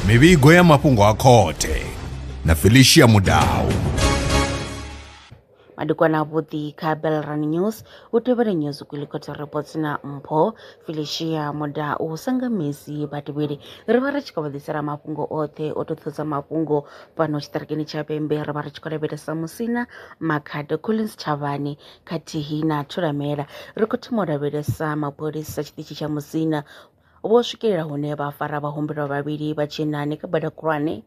mivhigo ya mafhungo a khothe na felicia mudau madekwana avhuḓi kha belran news u tevhela news kwilikotha reports na mpho felicia muda u sanga mesi vhatevheli ri vha ri tshi khou vhaḓisela mafhungo oṱhe o toṱhodza mafhungo fhano tshiṱirikini tsha pembe ri vha ri tshi khou lavhelesa musina makhado collins tshavhani khathihi na Thulamela, ri khou thoma u lavhelesa mapholisa tshiṱitshi tsha Musina vho swikelela hune vha fara vhahumbelwa vhavhili vha tshinnani kha bada khulwane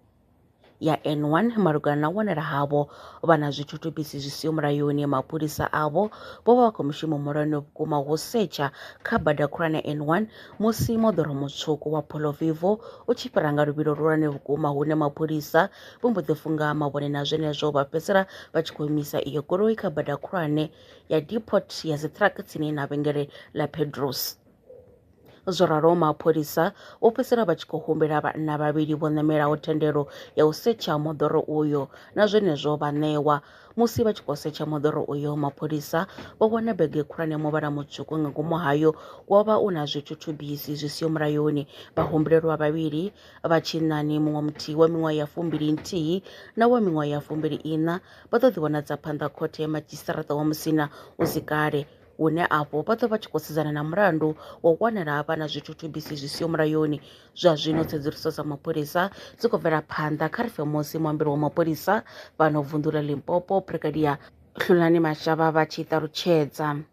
ya N1 malugana na u wanala havho vha na zwithutubisi zwi siho mulayoni. Mapholisa avho vho vha vha khou mushumo muhulwane vhukuma wo setsha kha bada khulwane N1 musi moḓoro mutswuku wa Polo Vivo u tshi fhira nga luvhilo luhulwane vhukuma hune mapholisa vho mbo ḓi funga mavhone na zwenezwo vha fhedzisela vha tshi khou imisa iyo goloi kha bada khulwane ya depot ya dzi truck tsini na vhengele ḽa pedros zwo ralo mapholisa vho fhedzisela vha tshi khou humbela vhanna vhavhili vho ṋamelaho thendelo ya u setsha moḓoro uyo na zwenezwo vha ṋewa musi vha tshi khou setsha moḓoro uyo mapholisa vho wana bege khulwane muvhala mutswuku nga ngomu hayo wo vha u na zwithuthubisi zwi siho mulayoni vhahumbulelwa vhavhili vha tshinnani muṅwe muthihi wa miṅwaha ya fumbili nthihi na wa miṅwaha ya fumbili iṋa vha ḓo ḓiwanadza phanḓa khothe ya madzhisiṱaraṱa wa musina hu si kale hune afho vha ḓo vha tshi khou sedzana na mulandu wa u wanala ha vha na zwithuthubisi zwi siho mulayoni zwa zwino tsedzuluso dza mapholisa dzi khou bvela phanḓa kha ri fe musi muambeli wa mapholisa fhano vunḓu ḽa limpopo brigadier hlulani mashava vha tshi ṱalutshedza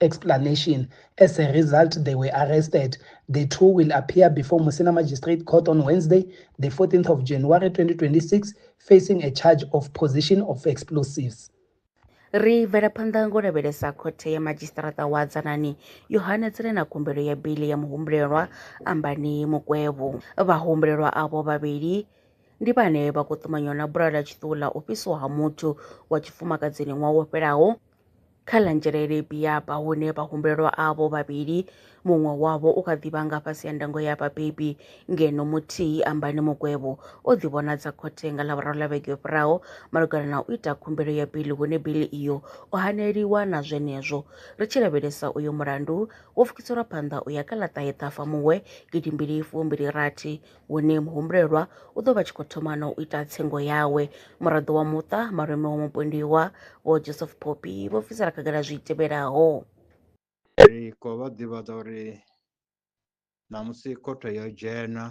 explanation. As a result, they were arrested. The two will appear before Musina Magistrate Court on Wednesday, the 14th of January 2026, facing a charge of possession of explosives. ri bvela phanḓa ngo lavhelesa khothe ya madzhisiṱaraṱa wa dzanani yo hanedzela na khumbelo ya bili ya muhumbulelwa ambani mukwevho vhahumbulelwa avho vhavhili ndi vhane vha khou ṱumanywa na bula ḽa tshiṱuwu ḽa u fhisiwa ha muthu wa tshifumakadzini ṅwaha wo fhelaho Kha ḽa nzhelele Biaba hune vhahumbulelwa avho vhavhili muṅwe wavho u kha ḓi vha nga fhasi ha ndango ya vhabebi ngeno muthihi Ambani Mugwevho o ḓivhonadza khothe nga Ḽavhuraru ḽa vhege yo fhiraho malugana na u ita khumbelo ya bili hune bili iyo o haneliwa na zwenezwo. Ri tshi lavhelesa uyo mulandu wo pfukiselwa phanḓa u ya kha ḽa ṱahe Ṱhafamuhwe gidimbili fumbili rathi hune muhumbulelwa u ḓo vha tshi khou thoma na u ita tsengo yawe. Muraḓo wa muṱa, malume wa mupondiwa, Vho Joseph Poppy, vho bvisela khagala zwi tevhelaho. Ri khou vha ḓivhadza uri ṋamusi khothe yo dzhena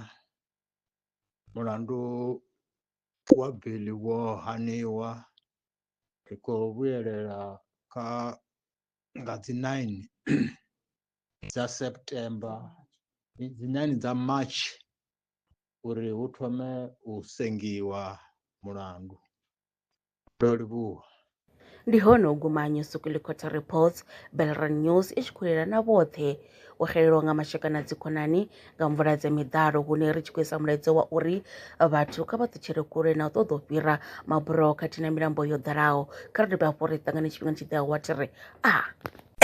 mulandu wa biḽi wo haniwa ri khou vhuyelela kha nga dzi 9 dza September dzi nani dza March uri hu thome u sengiwa mulandu ndo livhuwa ndi hone u guma nyusukuḽi quarter reports belran news i tshi khou lela na vhoṱhe u xelelwa nga mashaka na dzikhonani nga mvula dza miḓalo hune ri tshi khou isa mulaedza wa uri vhathu kha vha ṱutshele kule na u ṱoḓa u fhira maburoho khathihi na milambo yo ḓalaho kha ri dovhe hafhu ri ṱangane tshifhingani tshi ḓeaho wa thi ri a ah.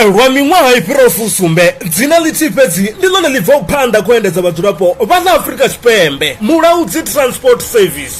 lwa miṅwaha i fhiraho fusumbe dzina ḽithihi fhedzi ndi ḽone ḽi bvaho phanḓa khou endedza vhadzulapo vha ḽa afurika tshipembe mulaudzi transport service